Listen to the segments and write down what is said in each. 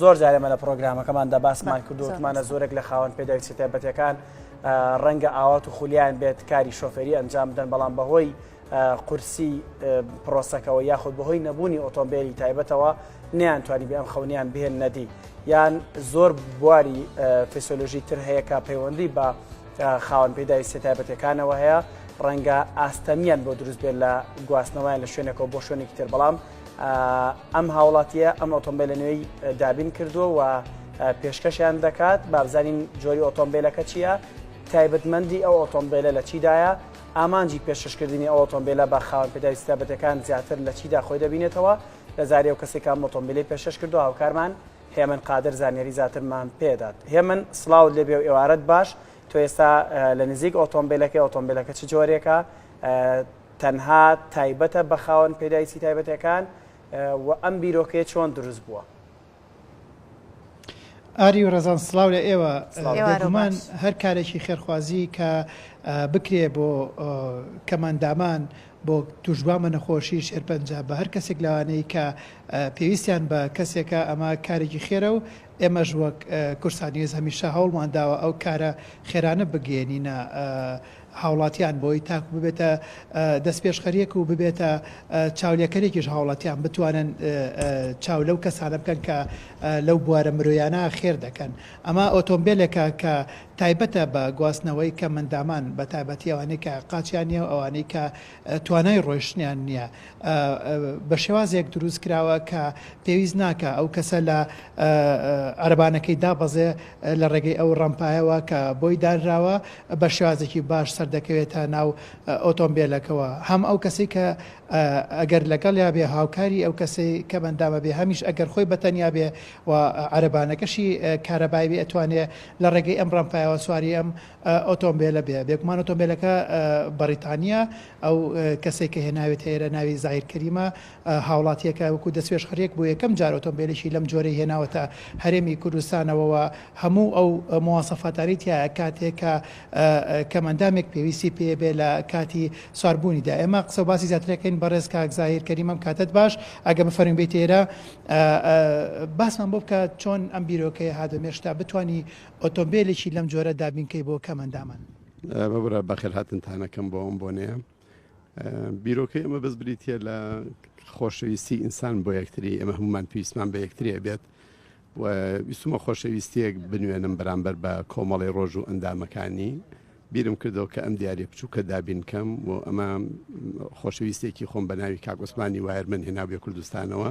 زۆر جارێ مە لە پرۆگرامەکەماندا باسمان کردوتمانە زۆرێک لە خاوەن پێداویستی تایبەتەکان ڕەنگە ئاوات و خولیان بێت کاری شۆفێری ئەنجام بدەن بەڵام بەهۆی قورسی پرۆسەکەەوە یاخود بەهۆی نەبوونی ئۆتۆمبیلی تایبەتەوە نیان توانی بێ ئەم خەونیان بهێن نەدی یان زۆر بواری فسیۆلۆژی تر هەیە کە پەیوەندی بە خاوەن پێداویستی تایبەتەکانەوە هەیە ڕەنگە ئاستەمیان بۆ دروست بێت لە گواستنەوەیان لە شوێنەکەەوە بۆ شوێنێکی تر بەڵام ئەم هاوڵاتیە ئەم ئۆتۆمبیل لە نوێی دابین کردووە و پێشکەشیان دەکات بابزانین جۆری ئۆتۆمبیلەکە چییە تایبەتمەندی ئەو ئۆتۆمبیلە لە چیدایە ئامانجی پێشکەشکردنی ئەو ئۆتۆمبیلە بە خاوەن پێداوی سیابەتەکان زیاتر لە چیدا خۆی دەبینێتەوە لە زاری و کەسێکا مۆتۆمبیلی پێشش کردو هاوکارمان هێمن قادر زانیاری زیاترمان پێدات هێمن سلااو لێبێ و ئێوارەت باش تۆ ئێستا لە نزیک ئۆتۆمبیلەکەی ئۆتۆمبیلەکە چ جۆرێکە تەنها تایبەتە بە خاوەن پێدایسی تایبەتەکان و ئەم بیرۆکەیە چۆن دروست بووە؟ ئاری و ڕەزان سڵاو لە ئێوە بێگومان هەر کارێکی خێرخوازی کە بکرێ بۆ کەماندامان بۆ توشبووان بە نەخۆشی شێرپەنجە بە هەر کەسێک لەوانەیە کە پێویستیان بە کەسێکە ئەمە کارێکی خێرە و ئێمەش وەک کورسانیێز هەمیشە هەوڵمان داوە ئەو کارە خێرانە بگەێنینە هاوڵاتیان بۆی تاکو ببێتە دەستپێشخەریەک و ببێتە چاولێکەرێکیش هاوڵاتیان بتوانن چاو لەو کەسانە بکەن کە لەو بوارە مرۆیانە خێر دەکەن ئەمە ئۆتۆمبێلێکە کە تایبەتە بە گواستنەوەی کەمئەندامان بەتایبەتی ئەوانەی کە قاچیان نیە و ئەوانەی کە توانای ڕۆیشتنیان نییە بە شێوازێک دروست کراوە کە پێویست ناکە ئەو کەسە لە عەربانەکەی دابەزێ لە ڕێگەی ئەو ڕەمپایەوە کە بۆی دانراوە بە شێوازێکی باش سەردەکەوێتە ناو ئۆتۆمبیلەکەەوە هەم ئەو کەسی کە ئەگەر لەگەڵ یا بێ هاوکاری ئەو کەسی کە بەندامە بێ هەمیش ئەگەر خۆی بەتەنیا بێ و عەربانەکەشی کارەبای بێ ئەتوانێ لە ڕێگەی ئەم ڕەمپایەوە سواری ئەم ئۆتۆمبێلە بێ بێگومان ئۆتۆمبێلەکە بەڕیتانییە ئەو کەسەی کە هێناوێتە ئێرە ناوی زاهیر کەریمە هاوڵاتییەکە وەکو دەستپێشخەریەک بۆ یەکەم جار ئۆتۆمبێلێکی لەم جۆرەی هێناوەتە هەرێمی کوردستانەوە و هەموو ئەو مواسەفاتانەی تیا کاتێک کە کەمەندامێک پێویستی پێ بێ لە کاتی سواربوونیدا ئێمە قسە و باسی زیاترەکەین بەڕێز کاک زاهیر کەریمەم کاتت باش ئەگە بفەرمووی بێیتە ئێرە باسمان بۆ بکە چۆن ئەم بیرۆکەیە هات بە مێشکتا بتانی ئۆتۆمبێلێکی لەم جۆرە دابین کەی بۆ کەم ئەندامان. مەبرە بەخێرهاتنتانەکەم بۆ ئەم بۆنەیە بیرۆکەی ئەمە بەس بریتە لە خۆشەویستی ئینسان بۆ یەکتری ئەمە هەمومان پێویستمان بە یەکتریە بێت و ویستمە خۆشەویستیەک بنوێنم بەرامبەر بە کۆمەڵی ڕۆژ و ئەندامەکانی بیرم کردەوە کە ئەم دیارە بچووکە دابینکەم و ئەمە خۆشەویستێکی خۆم بە ناوی کاگۆسمانی وایرمن هێناوێ کوردستانەوە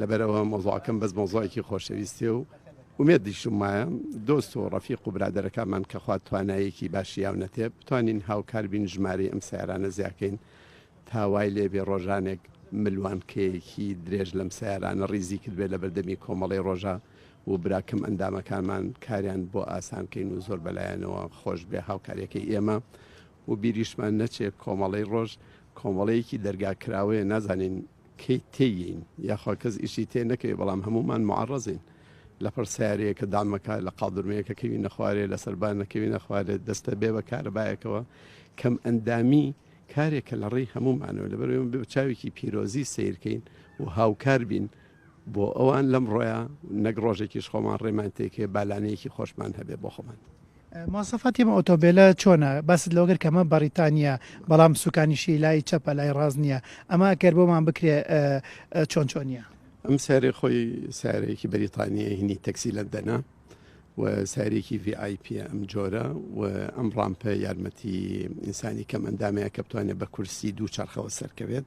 لەبەر ئەوە مەوزوعەکەم بەس مەوزوعێکی خۆشەویستیە و ئومێدیشم وایە دۆست و ڕەفیق و برادەرەکانمان کە خوا توانایەکی باشی یاونەتێ بتوانین هاوکار بین ژمارەی ئەم سیارانە زیاکەین تا وای لێبێ ڕۆژانێک ملوانکەیەکی درێژ لەم سیارانە ڕیزی کردبێ لە بەردەمی کۆمەڵی ڕۆژە و براکەم ئەندامەکانمان کاریان بۆ ئاسانکەین و زۆر بەلایەنەوە خۆش بێ هاوکاریەکەی ئێمە و بیریشمان نەچێ کۆمەڵی ڕۆژ کۆمەڵەیەکی دەرگا کراوەیە نازانین کەی تێیین یاخوا کەس ئیشی تێ نەکەی بەڵام هەمومان معڕەزین لەپڕ سارەیە کە دامەکە لە قاڵدرمەیەکە کەوی نەخوارێ لە سەربان نەکەوی نەخوارێت دەستە بێ بە کارەبایەکەوە کەم ئەندامی کارێکە لە ڕێی هەمومانەوە لەبەر چاوێکی پیرۆزی سیرکەین و هاوکار بین بۆ ئەوان لەم ڕۆیان نەک ڕۆژێکیش خۆمان ڕێمان تێکێ بالانەیەکی خۆشمان هەبێ بۆ خۆمان. مواصفاتی ئەم ئۆتۆمبێلە چۆنە؟ باست لەوە کرد کە ئەمە بەڕیتانییە بەڵام سوکانیشی لای چەپە لای ڕاست نییە ئەمە ئەکەر بۆمان بکرێ چۆن چۆنییە؟ ئەم سیارەی خۆی سیارەیەکی بەریتانییە هینی تەکسی لەندەنە و سیارێکی VIP ئەم جۆرە و ئەم ڕامپە یارمەتی ئینسانی کەم ئەندامەیە کە بتوانێت بە کورسی دوو چرخەوە سەرکەوێت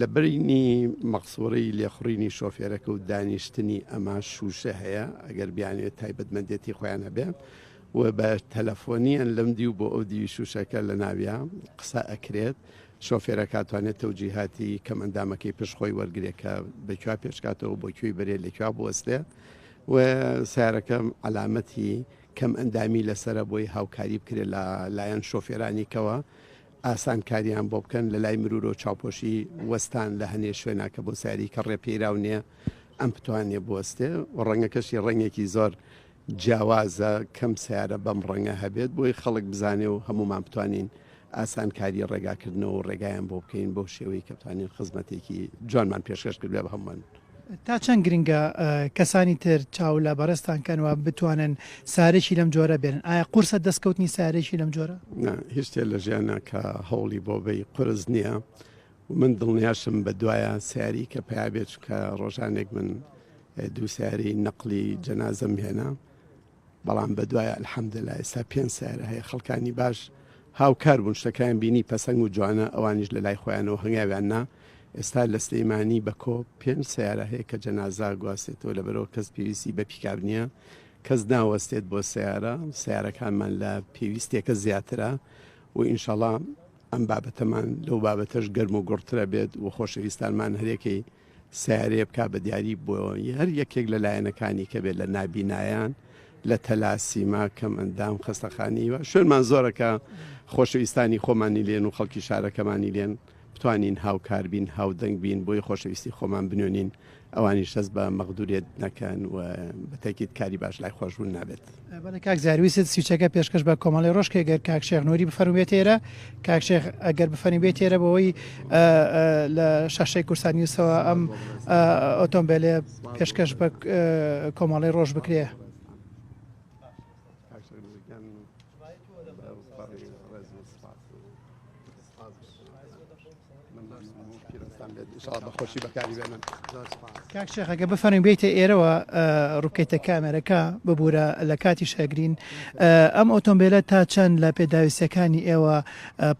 لە بەینی مەقسورەی لێخوڕینی شۆفێرەکە و دانیشتنی ئەما شووشە هەیە ئەگەر بیانوێت تایبەتمەندێتی خۆیان هەبێ و بە تەلەفۆنیان لەم دیو بۆ ئەو دیوی شووشەکە لە ناویا قسە ئەکرێت شۆفێرە کاتوانێت تەوجیهاتی کەم ئەندامەکەی پشت خۆی وەرگێ کە بەکووا پێشکاتەوە بۆ کوێی بەرێ لەکووا بوەستێ و سارەکەم علامەتی کەم ئەندامی لەسرە بۆی هاوکاری بکرێت لە لایەن شۆفێرانیکەوە ئاسان کاریان بۆ بکەن لەلای مرورۆ چاوپۆشی وەستان لە هەنێ شوێنا کە بۆ سیاری کەڕێ پێیراو نیە ئەم پتوانێ بوەستێ و ڕەنگەکەشی ڕەنگێکی زۆر جیاوازە کەم سیارە بەم ڕەنگە هەبێت بۆی خەڵک بزانێ و هەمومان بتوانین ئاسان کاری ڕێگاکردنەوە و ڕێگایان بۆ بکەین بەو شێوەی کە بتوانین خزمەتێکی جوانمان پێشکەش کردبێ بە هەموان. تا چەند گرنگە کەسانی تر چاو لە بەڕێزتان کەن و بتوانن سارێکی لەم جۆرە بێنن؟ ئایا قورسە دەستکەوتنی سارێکی لەم جۆرە؟ نا، هیچ شتێ لە ژیانا کە هەوڵی بۆ بەی قورس نییە و من دڵنیاشم بە دوایە سەیاری کە پەیا بێت، چونکە ڕۆژانێک من دوو سەیارەی نەقڵی جەنازەم هێنا. بەڵام بەدوای الحمدللە ئێستا پێنج سەیارە هەیە خەڵکانی باش هاوکار بوون شتەکەیان بینی پەسەنگ و جوانە ئەوانیش لە لای خۆیانەوە هەنگاویان نا ئێستا لە سلەیمانی بە کۆ پێنج سەیارە هەیە کە جەنازا گواستێتەوە لە بەرەوە کەس پێویستی بە پیکاب نییە کەس ناوەستێت بۆ سیارە سیارەکانمان لە پێویستێکە زیاترە و ئینشەڵام ئەم بابەتەمان لەو بابەتەش گەرم و گوڕترە بێت و خۆشەویستانمان هەرێکەی سەیارەیە بکا بە دیاری بۆ هەر یەکێک لە لایەنەکانی کە بێت لە نابینایان لە تەلاسیما کەم ئەندام خەستەخانی و شوێنمان زۆرەکە خۆشەویستانی خۆمانی لێن و خەڵکی شارەکەمانی لێن بتوانین هاوکار بین هاودەنگ بین بۆی خۆشەویستی خۆمان بنوێنین ئەوانیش دەست بە مەغدورێت نەکەن و بەتەکیت کاری باش لای خۆشبوون نابێت. بەڵێ کاک زیار ویست سویچەکە پێشکەش بە کۆمەڵی ڕۆژ کە گەر کاک شێخ نووری بفەرم بێت تێرە کاک شێخ ئەگەر بفەنی بێت تێرە بەوەی لە شاشەی کورسان نیوسەوە ئەم ئۆتۆمبیلێ پێشکەش بە کۆمەڵی ڕۆژ بکرێ. کاک شێخ ئەگە بفەرین بێتە ئێرەوە ڕووکەیتە کامێرەکە ببوورە لە کاتی شەگرین ئەم ئۆتۆمبیلە تا چەند لە پێداویستەکانی ئێوە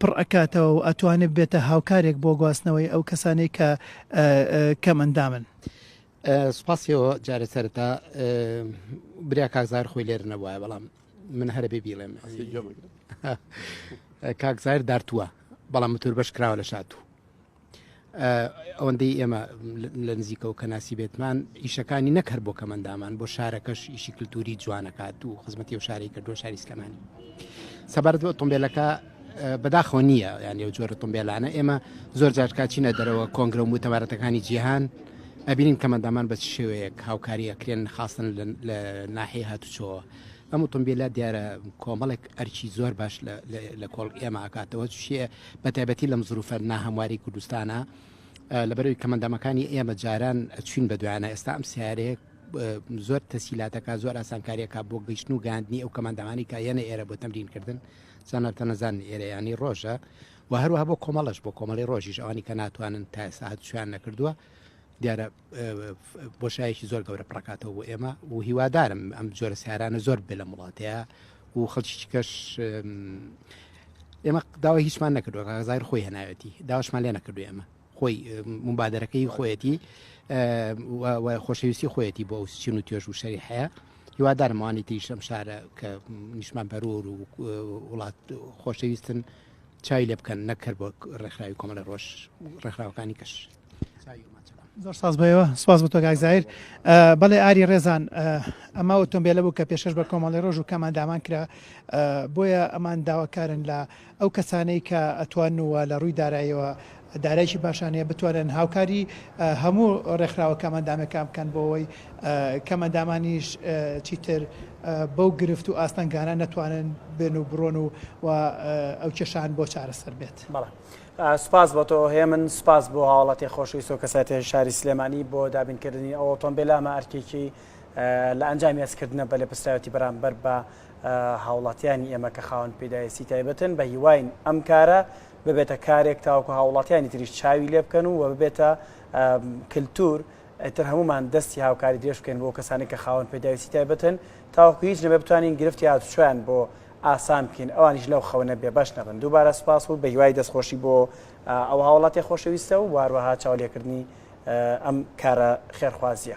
پڕ ئەکاتەوە و ئەتوانێت بێتە هاوکارێک بۆ گواستنەوەی ئەو کەسانەی کە کەم ئەندامن. سوپاسیەوە جارە سەرتا بریا کاکزار خۆی لێر نەبووە بەڵام من هەرە بێ بیڵێم کاک زایر دارتووە بەڵام متور بەش کراوە لە شاتوو ئەوەندەی ئێمە لە نزیکەوە کە ناسی بێتمان ئیشەکانی نەکەر بۆ کەمەندامان بۆ شارەکەش ئیشی کللتوری جوانەکات و خزمەتی و شاری کردو شاری سلمانی سەبارەت بۆ ئۆتۆمبیلەکە بەداخۆ نییە یان ێو جۆرە تۆمبیلانە ئێمە زۆر جارکچینە دەرەوە کۆنگرە و متەبارەتەکانی جیهان ئەبینین کەمەندامان بە شێوەیەک هاوکاریەکرێن خاستن لە ناحی هاتوچۆوە ئەم ئۆتۆمبیلە دیارە کۆمەڵێک ئەرکی زۆر باش لە کۆڵ ئێمە ئاکاتەوە چێ بە تایبەتی لەم زروفە ناهەمواری کوردستانە لەبەرەوەی کەمەندامەکانی ئێمە جاران چوین بە دوایانە ئێستا ئەم سیارەیە زۆر تەسیلاتەکە زۆر ئاسانکاریەکە بۆ گەیشتن و گاندنی ئەو کەماندامانی کە یەنە ئێرە بۆ تەمرینکردن زانارتە نەزان ئێرەیانی ڕۆژە و هەروەها بۆ کۆمەڵش بۆ کۆمەڵی ڕۆژیش ئەوانی کە ناتوانن تا ساعت شویان نەکردووە دیارە بۆشایەکی زۆر گەورە پڕکاتەوە بۆ ئێمە و هیوادارم ئەم جۆرە سیارانە زۆر بێ لە وڵاتەیە و خەڵکیکەش ئێمە داوای هیچمان نەکردوە غازار خۆی هەناوەتی داواشمان لێ نەکردو ئێمە خۆی مبادرەکەی خۆیەتی خۆشەویستی خۆیەتی بۆ چین و توێژ و شەری حەیە هیوادارمەوانی تریشم شارە کە نیشمان بەرور و وڵات خۆشەویستن چای لێ بکەن نەکرد بۆ ڕێکخراوی کۆمەڵی ڕۆژ ڕێکخراوەکانی کەش زۆر ساز بەوە سواز بە تۆگایزایر بەڵێ ئاری ڕێزان ئەمە ئۆتۆمبیلە بوو کە پێشش بە کۆمەڵی ڕۆژ و کەمان دامان کرا بۆیە ئەمان داواکارن لە ئەو کەسانەی کە ئەتوان وە لە ڕووی دارایەوە دارایشی باشانەیە بتوانن هاوکاری هەموو ڕێکخراوە کەمەندامەکان بکەن بۆەوەی کەمەندامانیش چیتر بەو گرفت و ئاستەنگانە نەتوانن بێن و بڕۆن و ئەو کێشان بۆ چارەسەر بێت. سوپاس بۆ تۆ هێمن، سوپاس بۆ هاوڵاتیە خۆشەویست و کەسایەتیە شاری سلێمانی بۆ دابین کردنی ئەو ئۆتۆمبێلە، ئەمە ئەرکێکی لە ئەنجامی هەست کردنە بە لێپرسراوێتی بەرامبەر بە هاوڵاتیانی ئێمە کە خاوەن پێداویستی تایبەتن، بە هیواین ئەم کارە ببێتە کارێک تاوەکو هاوڵاتیانی تریش چاوی لێ بکەن و ببێتە کلتور ئیتر هەموومان دەستی هاوکاری درێژ بکەین بۆ کەسانی کە خاوەن پێداویستی تایبەتن تاوەکو هیچ نەبێ بتوانین گرفتی هاتوچۆیان بۆ ئاسان بکەین ئەوانیش لەو خەونە بێ بەش نەبن دووبارە سوپاس و بەهیوای دەستخۆشی بۆ ئەو هاوڵاتیە خۆشەویستە و هەروەها چاولێکردنی ئەم کارە خێرخوازیە.